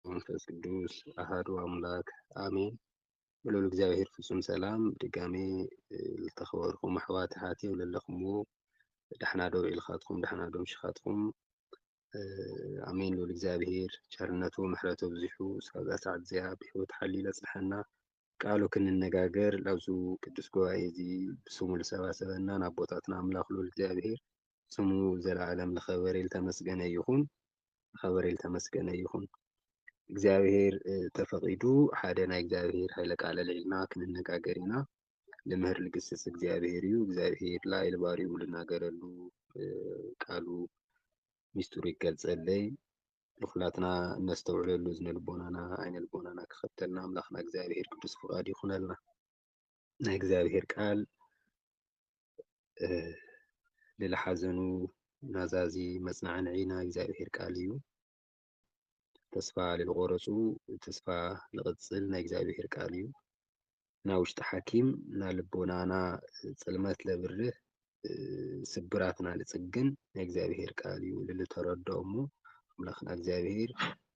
መንፈስ ቅዱስ ኣሃዱ ኣምላክ ኣሜን። ብልዑል እግዚኣብሔር ፍጹም ሰላም ድጋሜ ዝተኸበርኩም ኣሕዋት ኣሓት እዮም ዘለኹምዎ ዳሕና ዶ ውዒልኻትኩም ዳሕና ዶ ምሽኻትኩም ኣሜን። ልዑል እግዚኣብሔር ቸርነቱ ምሕረቱ ኣብዚሑ ሳብዛ ሰዓት እዚኣ ብሕይወት ሓልዩ ለጽንሐና ቃሉ ክንነጋገር ኣብዚ ቅዱስ ጉባኤ እዚ ብስሙ ልሰባሰበና ንኣቦታትና ኣምላኽ ልዑል እግዚኣብሔር ስሙ ዘለዓለም ልኸበረ ልተመስገነ ይኹን ልኸበረ ልተመስገነ ይኹን። እግዚኣብሔር ተፈቒዱ ሓደ ናይ እግዚኣብሔር ኃይለ ቃል ኣልዒልና ክንነጋገር ኢና። ልምህር ልግስጽ እግዚኣብሔር እዩ። እግዚኣብሔር ላዕሊ ባሪኡ ልናገረሉ ቃሉ ሚስጥሩ ይገልጸለይ። ንኩላትና እነስተውዕለሉ እዝነ ልቦናና ዓይነ ልቦናና ክኸፍተልና ኣምላኽና እግዚኣብሔር ቅዱስ ፍቃዱ ይኹነልና። ናይ እግዚኣብሔር ቃል ልልሓዘኑ ናዛዚ መጽናዕንዒ ናይ እግዚኣብሔር ቃል እዩ። ተስፋ ልልቆረጹ ተስፋ ልቕጽል ናይ እግዚኣብሔር ቃል እዩ። ና ውሽጢ ሓኪም ና ልቦናና ጽልመት ለብርህ ስብራትና ልጽግን ናይ እግዚኣብሔር ቃል እዩ ልልተረዶ እሞ ኣምላኽና እግዚኣብሔር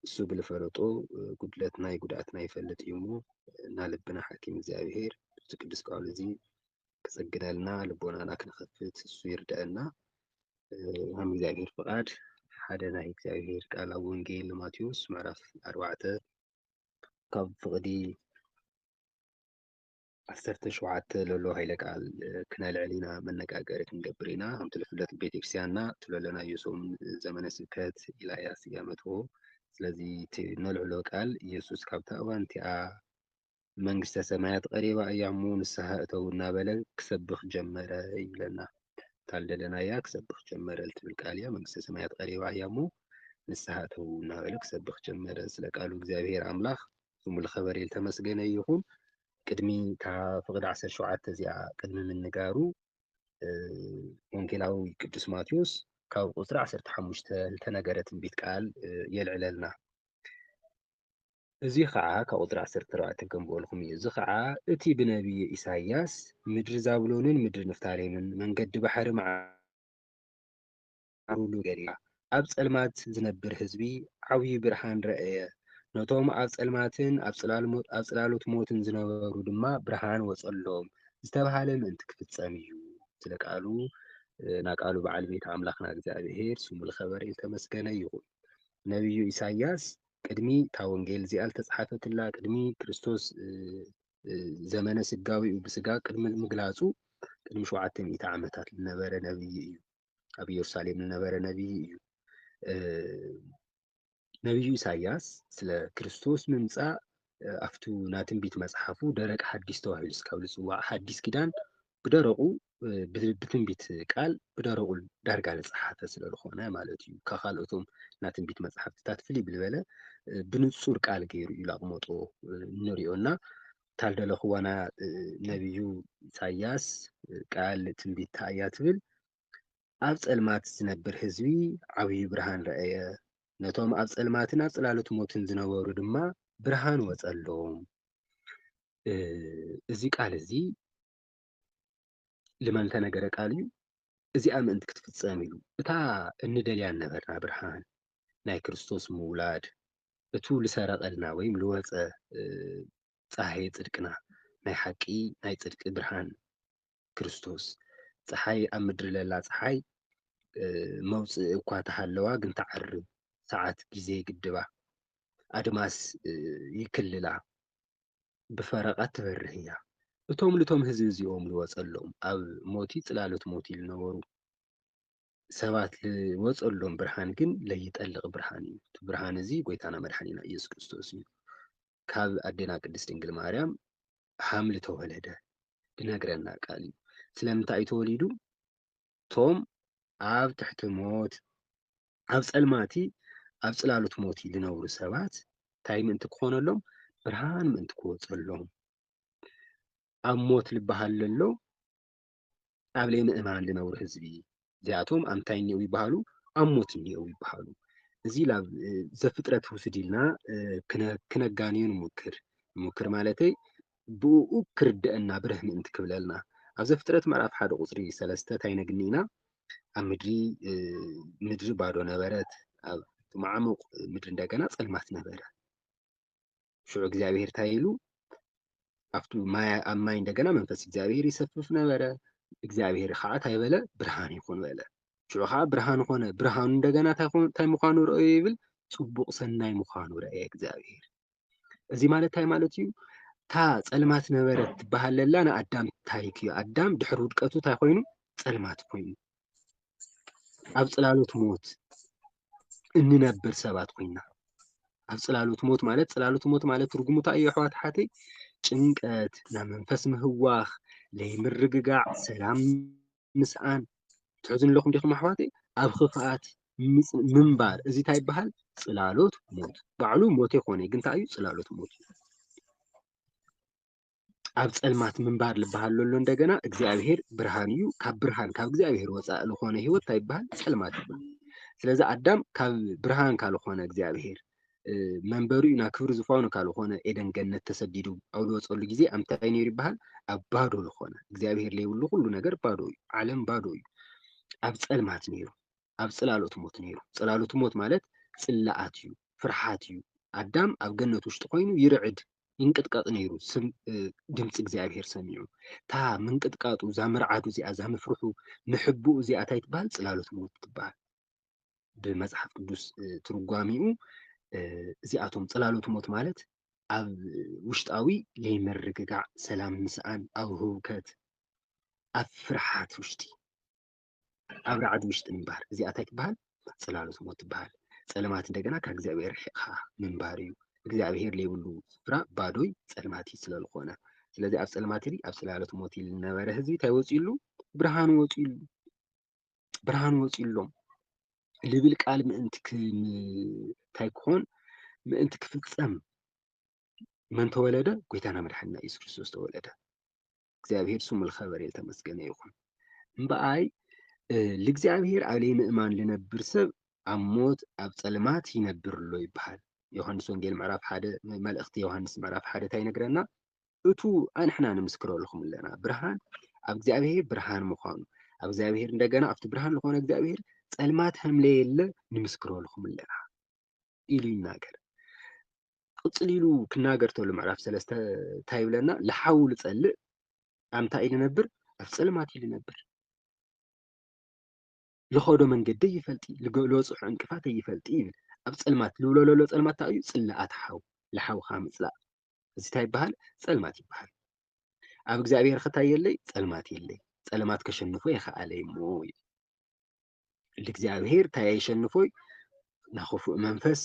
እሱ ብልፈለጦ ጉድለትና ይጉድኣትና ይፈልጥ እዩ እሞ እና ልብና ሓኪም እግዚኣብሔር እዚ ቅዱስ ቃሉ እዚ ክጽግነልና ልቦናና ክንኸፍት እሱ ይርዳእና ከም እግዚኣብሔር ፍቓድ ሓደ ናይ እግዚኣብሔር ቃል ኣብ ወንጌል ማቴዎስ ምዕራፍ ኣርባዕተ ካብ ፍቕዲ ዓሰርተ ሸውዓተ ለሎ ሃይለ ቃል ክነልዕል ኢና መነጋገሪ ክንገብር ኢና ከምቲ ዝፍለጥ ቤተክርስቲያንና ትለለናዮ ሶም ዘመነ ስብከት ኢላ እያ ስያመትዎ ስለዚ እቲ ነልዕሎ ቃል ኢየሱስ ካብታ እዋን እቲኣ መንግስተ ሰማያት ቐሪባ እያ እሞ ንስሓ እተዉ እናበለ ክሰብኽ ጀመረ ይብለና ታልደለናያ ክሰብኽ ጀመረ ልትብል ቃል እያ መንግስተ ሰማያት ቐሪባ እያ እሞ ንስሓ እተዉ እናበለ ክሰብኽ ጀመረ ስለ ቃሉ እግዚኣብሔር ኣምላኽ ስሙ ልኸበረ ልተመስገነ ይኹን ቅድሚ እታ ፍቕድ ዓሰርተ ሸውዓተ እዚኣ ቅድሚ ምንጋሩ ወንጌላዊ ቅዱስ ማቴዎስ ካብ ቁፅሪ ዓሰርተ ሓሙሽተ ልተነገረ ትንቢት ቃል የልዕለልና እዚ ኸኣ ካብ ቍጽሪ ዓሰርተ ኣርባዕተ ከንብበልኩም እዩ፣ እዚ ኸኣ እቲ ብነብዪ ኢሳይያስ፣ ምድሪ ዛብሎንን ምድሪ ንፍታሌምን መንገዲ ባሕሪ መዓርሉ ገሊኣ፣ ኣብ ጸልማት ዝነብር ህዝቢ ዓብዩ ብርሃን ረኣየ፣ ነቶም ኣብ ጸልማትን ኣብ ጽላሎት ሞትን ዝነበሩ ድማ ብርሃን ወጸሎም ዝተባህለ ምእንቲ ክፍጸም እዩ። ስለ ቃሉ ና ቃሉ በዓል ቤት ኣምላኽና እግዚኣብሄር ስሙ ልኸበርን ልተመስገነ ይኹን። ነብዩ ኢሳይያስ ቅድሚ እታ ወንጌል እዚኣ ዝተጽሓፈትላ ቅድሚ ክርስቶስ ዘመነ ስጋዊኡ ብስጋ ቅድሚ ምግላጹ ቅድሚ ሸውዓተ ሚእቲ ዓመታት ዝነበረ ነብዪ እዩ። ኣብ ኢየሩሳሌም ዝነበረ ነብዪ እዩ። ነብዩ ኢሳያስ ስለ ክርስቶስ ምምጻእ ኣብቱ ናትንቢት መጽሓፉ ደረቅ ሓዲስ ተባሂሉ ስካብ ዝጽዋዕ ሓዲስ ኪዳን ብደረቁ ብትንቢት ቃል ብደረቁ ዳርጋ ዝጸሓፈ ስለ ዝኾነ ማለት እዩ ካብ ካልኦቶም ናይ ትንቢት መጽሓፍትታት ፍልይ ብዝበለ ብንጹር ቃል ገይሩ እዩ ላቕመጦ እንሪኦ እና ታልደለኽዋና ነቢዩ ኢሳያስ ቃል ትንቢት ታእያ ትብል ኣብ ጸልማት ዝነብር ህዝቢ ዓብዩ ብርሃን ረኣየ ነቶም ኣብ ጸልማትን ኣብ ጽላሎት ሞትን ዝነበሩ ድማ ብርሃን ወጸሎም እዚ ቃል እዚ ልመን ተነገረ ቃል እዩ እዚኣ ምእንቲ ክትፍጸም ኢሉ እታ እንደልያ ነበርና ብርሃን ናይ ክርስቶስ ምውላድ እቱ ልሰረቐልና ወይም ልወፀ ፀሃየ ፅድቅና ናይ ሓቂ ናይ ፅድቂ ብርሃን ክርስቶስ ፀሓይ ኣብ ምድሪ ለላ ፀሓይ መውፅእ እኳ ተሃለዋ ግን ተዓር ሰዓት ግዜ ግድባ ኣድማስ ይክልላ ብፈረቓ እትበርህ እያ። እቶም ኑቶም ህዝቢ እዚኦም ልወጸሎም ኣብ ሞቲ ጽላሎት ሞቲ ልነበሩ ሰባት ልወጸሎም ብርሃን ግን ለይጠልቕ ብርሃን እዩ። እቲ ብርሃን እዚ ጎይታና መድሓኒና ኢየሱስ ክርስቶስ እዩ። ካብ ኣዴና ቅድስት ድንግል ማርያም ሓምሊ ተወለደ። ልነግረና ቃል እዩ። ስለምንታይ እዩ ተወሊዱ? ቶም ኣብ ትሕቲ ሞት ኣብ ጸልማቲ ኣብ ጽላሉት ሞቲ ልነብሩ ሰባት ታይ ምእንቲ ክኾነሎም ብርሃን ምእንቲ ክወጸሎም ኣብ ሞት ልበሃል ለሎ ኣብ ለይ ምእማን ልነብሩ ህዝቢ እዚኣቶም ኣንታይ እኒኦው ይበሃሉ ኣብ ሞት እኒኦው ይበሃሉ እዚ ብ ዘፍጥረት ውስድ ኢልና ክነጋንዮ ንሙክር ንሙክር ማለተይ ብእኡ ኪርድኣና ብርህ ምእንቲ ኪብለልና። ኣብ ዘፍጥረት ምዕራፍ ሓደ ቁጽሪ ሰለስተ ታይ ነግኒ ኢና ኣብ ምድሪ ምድሪ ባዶ ነበረት ኣብ ማዓሙቅ ምድሪ እንደገና ጸልማት ነበረ ሽዑ እግዚኣብሄር ታይ ኢሉ ኣብቲ ማይ ኣብ ማይ እንደገና መንፈስ እግዚኣብሄር ይሰፍፍ ነበረ እግዚኣብሄር ከዓ ታይ በለ ብርሃን ይኹን በለ ሽዑ ከዓ ብርሃን ኾነ ብርሃኑ እንደገና ታይ ምዃኑ ረኣዩ ይብል ጽቡቅ ሰናይ ምዃኑ ረኣየ እግዚኣብሄር እዚ ማለት እንታይ ማለት እዩ? እታ ጸልማት ነበረት ትበሃል ለላ ንኣዳም ታሪክ እዩ። ኣዳም ድሕሪ ውድቀቱ እንታይ ኮይኑ? ጸልማት ኮይኑ ኣብ ጽላሎት ሞት እንነብር ሰባት ኮይና ኣብ ጽላሎት ሞት ማለት ጽላሎት ሞት ማለት ትርጉሙ እንታይ እዩ ኣሕዋት ሓተይ? ጭንቀት፣ ናይ መንፈስ ምህዋኽ፣ ለይምርግጋዕ፣ ሰላም ምስኣን ትሕዙኒ ኣለኹም ዲኹም ኣሕዋተይ? ኣብ ኽፍኣት ምንባር እዚ እንታይ ይበሃል? ፅላሎት ሞት ባዕሉ ሞት ኣይኮነ ግን እንታይ እዩ? ፅላሎት ሞት እዩ። ኣብ ፀልማት ምንባር ዝበሃል ዘሎ እንደገና እግዚኣብሄር ብርሃን እዩ። ካብ ብርሃን ካብ እግዚኣብሄር ወፃኢ ዝኾነ ህይወት እንታይ ይበሃል? ፀልማት ይበሃል። ስለዚ ኣዳም ካብ ብርሃን ካልኾነ እግዚኣብሄር መንበሪኡ ናብ ክብሪ ዝፋኑ ካብ ዝኾነ ኤደን ገነት ተሰዲዱ ኣብ ዝወፀሉ ጊዜ ኣብ እንታይ ነይሩ ይበሃል? ኣብ ባዶ ዝኾነ እግዚኣብሔር ለይብሉ ኩሉ ነገር ባዶ እዩ። ዓለም ባዶ እዩ። ኣብ ፀልማት ነይሩ። ኣብ ፅላሎት ሞት ነይሩ። ፅላሎት ሞት ማለት ፅላኣት እዩ፣ ፍርሓት እዩ። ኣዳም ኣብ ገነት ውሽጢ ኮይኑ ይርዕድ ይንቅጥቀጥ ነይሩ ድምፂ እግዚኣብሔር ሰሚዑ። እታ ምንቅጥቃጡ እዛ ምርዓዱ እዚኣ እዛ ምፍርሑ ምሕብኡ እዚኣ እንታይ ትበሃል? ፅላሎት ሞት ትበሃል። ብመጽሓፍ ቅዱስ ትርጓሚኡ እዚኣቶም ጽላሎት ሞት ማለት ኣብ ውሽጣዊ ዘይምርግጋዕ፣ ሰላም ምስኣን፣ ኣብ ህውከት፣ ኣብ ፍርሓት ውሽጢ ኣብ ራዕዲ ውሽጢ ምንባር እዚኣ እንታይ ትበሃል? ጽላሎት ሞት ትበሃል። ጸልማት እንደገና ካብ እግዚኣብሔር ርሒቕካ ምንባር እዩ። እግዚኣብሔር ዘይብሉ ስፍራ ባዶይ ጸልማት እዩ ስለ ዝኾነ ስለዚ ኣብ ጸልማት ኣብ ጽላሎት ሞት ዝነበረ ህዝቢ እንታይ ወፂኡሉ? ብርሃን ወፂኡሉ። ብርሃን ወፂኡሎም ልብል ቃል ምእንቲ እንታይ ክኾን ምእንቲ ክፍፀም መን ተወለደ? ጎይታና መድሓኒና ኢየሱስ ክርስቶስ ተወለደ። እግዚኣብሔር ስሙ ልኸበረ ተመስገነ ይኹን። እምበኣይ ልእግዚኣብሔር ኣብ ለይምእማን ልነብር ሰብ ኣብ ሞት ኣብ ፀልማት ይነብር ኣሎ ይበሃል። ዮሃንስ ወንጌል ምዕራፍ ሓደ መልእኽቲ ዮሃንስ ምዕራፍ ሓደ እንታይ ይነግረና? እቱ ኣንሕና ንምስክረልኹም ኣለና ብርሃን ኣብ እግዚኣብሔር ብርሃን ምዃኑ ኣብ እግዚኣብሔር እንደገና ኣብቲ ብርሃን ዝኾነ እግዚኣብሔር ጸልማት ከምለየለ ንምስክረልኹም ኣለና ኢሉ ይናገር ቅፅል ኢሉ ክናገር ተሎ ምዕራፍ ሰለስተ እንታይ ይብለና ልሓው ልፀልእ ኣምታይ ልነብር ኣብ ፀልማት እዩ ልነብር ልኸዶ መንገዲ ኣይፈልጢ ልበፅሖ ዕንቅፋት ኣይፈልጢ ይብል ኣብ ፀልማት ልውለለሎ ፀልማት ታይ እዩ ፅላኣት ሓው ልሓውኻ ምፅላእ እዚ ታይ ይበሃል ፀልማት ይበሃል ኣብ እግዚኣብሔር ኸ ታይ የለይ ፀልማት የለይ ፀልማት ከሸንፎ የኸኣለይ እሞ እዩ ልእግዚኣብሔር ታይ ኣየሸንፎይ ናብ ኽፉእ መንፈስ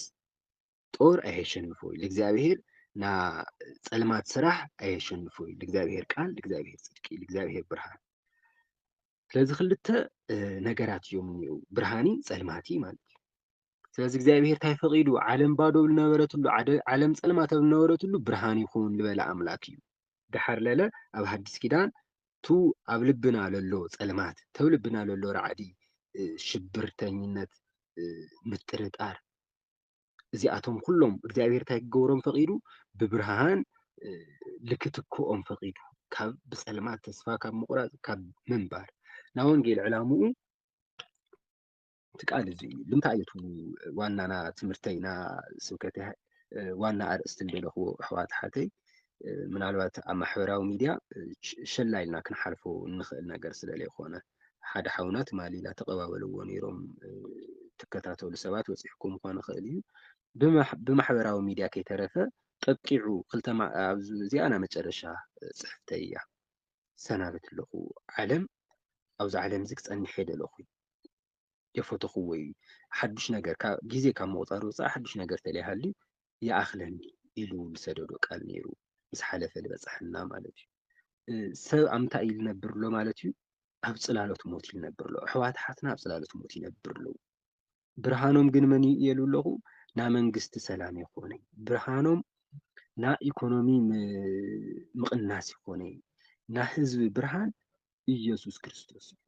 ጦር ኣየሸንፎይ ልእግዚኣብሔር ና ፀልማት ስራሕ ኣየሸንፎይ ልእግዚኣብሔር ቃል ልእግዚኣብሔር ፅድቂ ልእግዚኣብሔር ብርሃን ስለዚ ክልተ ነገራት እዮም እኒኡ ብርሃኒ ፀልማቲ ማለት እዩ። ስለዚ እግዚኣብሄር እንታይ ፈቒዱ ዓለም ባዶ ዝነበረትሉ ዓለም ፀልማት ኣብ ዝነበረትሉ ብርሃን ይኹን ዝበለ ኣምላክ እዩ። ድሓር ለለ ኣብ ሓዲስ ኪዳን ቱ ኣብ ልብና ለሎ ፀልማት ተብ ልብና ለሎ ራዕዲ ሽብርተኝነት ምጥርጣር እዚኣቶም ኩሎም እግዚኣብሔር እንታይ ክገብሮም ፈቂዱ ብብርሃን ልክትክኦም ፈቂዱ ካብ ብፀልማት ተስፋ ካብ ምቁራፅ ካብ ምንባር ናብ ወንጌል ዕላምኡ እቲ ቃል እዚ እዩ ልምታይ እዩ ዋናና ትምህርተይና ስብከት ዋና ኣርእስቲ እንደለኽዎ ኣሕዋት ሓተይ ምናልባት ኣብ ማሕበራዊ ሚድያ ሸላ ኢልና ክንሓልፎ እንኽእል ነገር ስለ ዘይኮነ ሓደ ሓውና ትማሊ ኢላ ተቐባበልዎ ነይሮም ትከታተሉ ሰባት ወፂሕኩም ምኳን ይኽእል እዩ ብማሕበራዊ ሚድያ ከይተረፈ ጠቂዑ ክልተ እዚኣ ናይ መጨረሻ ፅሕፍተይ እያ ሰናበት ኣለኹ ዓለም ኣብዚ ዓለም እዚ ክፀንሕ የደለኹ የፈተኹዎ እዩ። ሓዱሽ ነገር ካብ ግዜ ካብ ምቑጻር ወጻኢ ሓዱሽ ነገር ተለይሃልዩ ይኣኽለኒ ኢሉ ዝሰደዶ ቃል ነይሩ ምስ ሓለፈ ዝበጽሐና ማለት እዩ። ሰብ ኣብ እንታይ እዩ ዝነብር ኣሎ ማለት እዩ? ኣብ ጽላሎት ሞት እዩ ዝነብር ኣሎ። ኣሕዋት ሓትና ኣብ ጽላሎት ሞት ይነብር ኣለዉ። ብርሃኖም ግን መን እዩ እየሉ ኣለኹ ና መንግስቲ ሰላም ይኾነ ብርሃኖም ና ኢኮኖሚ ምቕናስ ይኾነ ና ህዝቢ ብርሃን ኢየሱስ ክርስቶስ እዩ።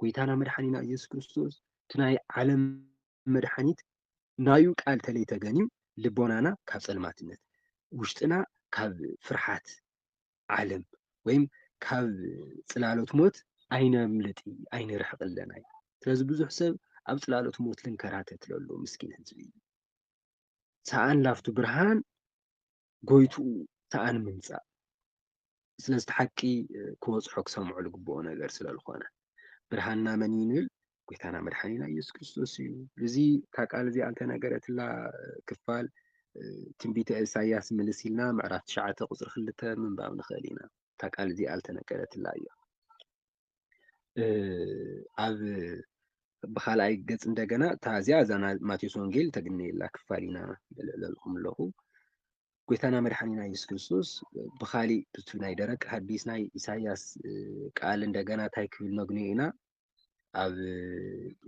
ጎይታና መድሓኒና እየሱስ ክርስቶስ እቲ ናይ ዓለም መድሓኒት ናዩ ቃል ተለይ ተገንዩ ልቦናና ካብ ጸልማትነት ውሽጥና ካብ ፍርሓት ዓለም ወይም ካብ ጽላሎት ሞት ኣይነምልጥ ኣይንርሕቕ ኣለና እዩ ስለዚ ብዙሕ ሰብ ኣብ ጽላሎት ሞት ልንከራተት ለሎ ምስኪን ህዝቢ ሰኣን ላፍቱ ብርሃን ጎይትኡ ሰኣን ምምጻእ ስለዚ እቲ ሓቂ ክበጽሖ ክሰምዖ ዝግብኦ ነገር ስለ ዝኾነ ብርሃንና መን እዩ ንብል ጎይታና መድሓኒና ኢየሱስ ክርስቶስ እዩ እዚ እታ ቃል እዚኣ እንተነገረትላ ክፋል ትንቢተ ኢሳያስ ምልስ ኢልና ምዕራፍ ትሽዓተ ቁፅሪ ክልተ ምንባብ ንኽእል ኢና እታ ቃል እዚኣ ዝተነገረትላ እያ ኣብ ብካልኣይ ገጽ እንደገና እታ እዚኣ እዛ ማቴዎስ ወንጌል ተግንየላ ክፋል ኢና ለለልኹም ኣለኹ ጎይታና መድሓኒና የሱስ ክርስቶስ ብካሊእ ብቱ ናይ ደረቅ ሀዲስ ናይ ኢሳያስ ቃል እንደገና እንታይ ክብል ነግንዮ ኢና ኣብ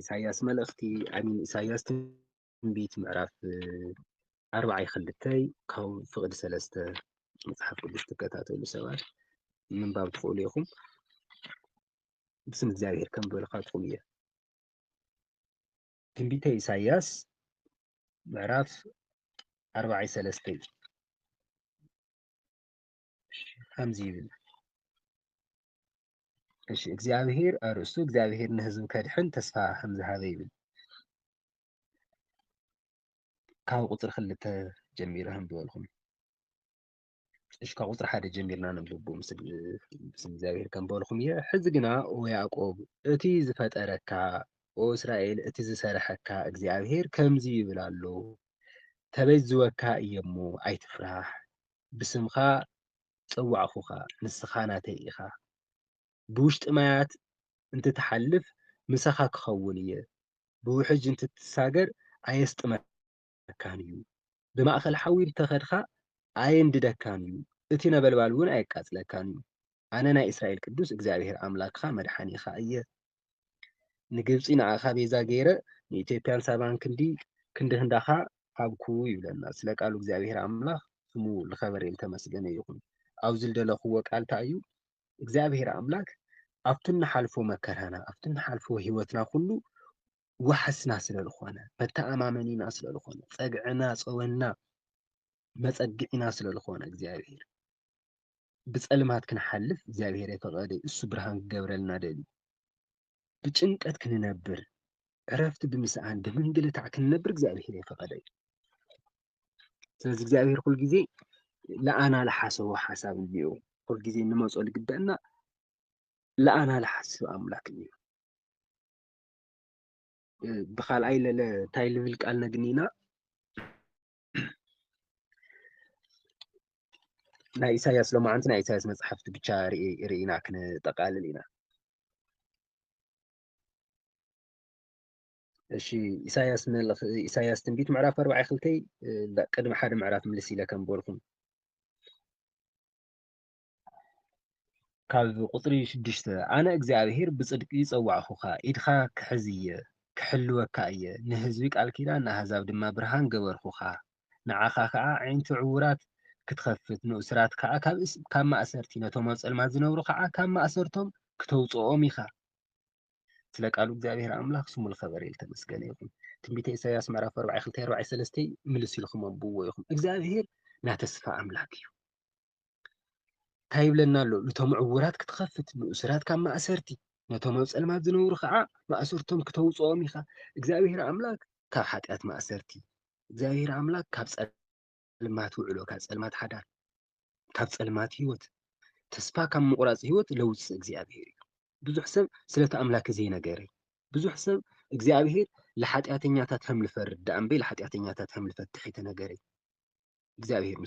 ኢሳያስ መልእኽቲ ኣሚን ኢሳያስ ትንቢት ምዕራፍ ኣርብዓይ ክልተይ ካብ ፍቕዲ ሰለስተ መጽሓፍ ቅዱስ ትከታተሉ ሰባት ምንባብ ትኽእሉ ኢኹም። ብስም እግዚኣብሔር ከም በልኻትኩም እየ። ትንቢተ ኢሳይያስ ምዕራፍ ኣርብዓይ ሰለስተይ ከምዚ ይብል እሺ እግዚኣብሔር ኣርእስቱ እግዚኣብሔር ንህዝቡ ከድሕን ተስፋ ከም ዝሃበ ይብል ካብ ቁፅሪ ክልተ ጀሚረ ከምዝበልኩም እሺ ካብ ቁፅሪ ሓደ ጀሚርና ነንብቡ ምስ እግዚኣብሔር ከምበልኩም እየ ሕዚ ግና ኦ ያዕቆብ እቲ ዝፈጠረካ ኦ እስራኤል እቲ ዝሰረሐካ እግዚኣብሔር ከምዚ ይብል ኣሎ ተበጅወካ እየሞ ኣይትፍራሕ ብስምካ ጸዋዕኩኻ ንስኻ ናተይ ኢኻ ብውሽጢ ማያት እንትትሓልፍ ምሳኻ ክኸውን እየ ብውሕጅ እንትትሳገር ኣየስጥመካን እዩ ብማእከል ሓዊ እንተኸድካ ኣየንድደካን እዩ እቲ ነበልባልውን ኣየቃጽለካን እዩ ኣነ ናይ እስራኤል ቅዱስ እግዚኣብሄር ኣምላክኻ መድሓኒኻ እየ ንግብጺ ንዓኻ ቤዛ ገይረ ንኢትዮጵያን ሳባን ክንዲ ክንዲ ክንዳኻ ሃብኩ ይብለና ስለ ቃሉ እግዚኣብሔር ኣምላኽ ስሙ ልኸበሬን ልተመስገነ ይኹን ኣብዚ ልደለኽዎ ቃል እንታይ እዩ እግዚኣብሔር ኣምላክ ኣብቲ ንሓልፎ መከራና ኣብቲ ንሓልፎ ህይወትና ኩሉ ዋሕስና ስለ ልኾነ መተኣማመኒና ስለ ልኾነ ጸግዕና ጸወና መጸግዒና ስለ ልኾነ እግዚኣብሔር ብጸልማት ክንሓልፍ እግዚኣብሔር የፈቐደ እዩ እሱ ብርሃን ክገብረልና ደልዩ ብጭንቀት ክንነብር ዕረፍቲ ብምስኣን ብምንግልታዕ ክንነብር እግዚኣብሔር የፈቐደ እዩ ስለዚ እግዚኣብሔር ኩል ግዜ ለኣና ዝሓሰቦ ሓሳብ እኒኦ ኩል ግዜ ንመፆ ልግበአና ለኣና ዝሓስብ ኣምላክ እኒኦ ብካልኣይ ለለ እንታይ ልብል ቃል ነግኒና ናይ ኢሳያስ ሎማዓንቲ ናይ ኢሳያስ መፅሓፍቲ ብቻ ርኢና ክንጠቃልል ኢና እሺ ኢሳያስ መልኽ ኢሳያስ ትንቢት ምዕራፍ ኣርባዕ ክልተይ ቅድሚ ሓደ ምዕራፍ ምልስ ኢለ ከም በልኩም ካብ ቁጽሪ ሽዱሽተ፣ ኣነ እግዚኣብሄር ብጽድቂ ጸዋዕኩኻ፣ ኢድካ ክሕዝ እየ፣ ክሕልወካ እየ፣ ንህዝቢ ቃል ኪዳን፣ ንኣህዛብ ድማ ብርሃን ገበርኩኻ፣ ንዓኻ ኸኣ ኣዒንቲ ዕዉራት ክትኸፍት፣ ንእሱራት ከኣ ካብ ማእሰርቲ፣ ነቶም ኣብ ጸልማት ዝነብሩ ኸኣ ካብ ማእሰርቶም ክተውጽኦም ኢኻ። ስለ ቃሉ እግዚኣብሄር ኣምላኽ ስሙ ልኸበረ ልተመስገነ ይኹን። ትንቢተ ኢሳይያስ ምዕራፍ ኣርባዕይ ክልተይ ኣርባዕይ ሰለስተይ ምልስ ኢልኩም ኣንብብዎ ኢኹም። እግዚኣብሄር ናይ ተስፋ ኣምላክ እዩ። እንታይ ይብለና ኣሎ? ነቶም ዕዉራት ክትኸፍት፣ ንእሱራት ካብ ማእሰርቲ፣ ነቶም ኣብ ጸልማት ዝነብሩ ኸዓ ማእሰርቶም ክተውጽኦም ኢኻ። እግዚኣብሄር ኣምላኽ ካብ ሓጢኣት ማእሰርቲ፣ እግዚኣብሄር ኣምላኽ ካብ ጸልማት ውዕሎ፣ ካብ ጸልማት ሓዳር፣ ካብ ጸልማት ህይወት፣ ተስፋ ካብ ምቑራጽ ህይወት ለውጽእ እግዚኣብሄር እዩ። ብዙሕ ሰብ ስለቲ ኣምላክ ዘይነገረ ብዙሕ ሰብ እግዚኣብሄር ንሓጢኣተኛታት ከም ልፈርድ ደኣ እምበይ ንሓጢኣተኛታት ከም ልፈትሕ ኣይተነገረ እግዚኣብሄር ምስ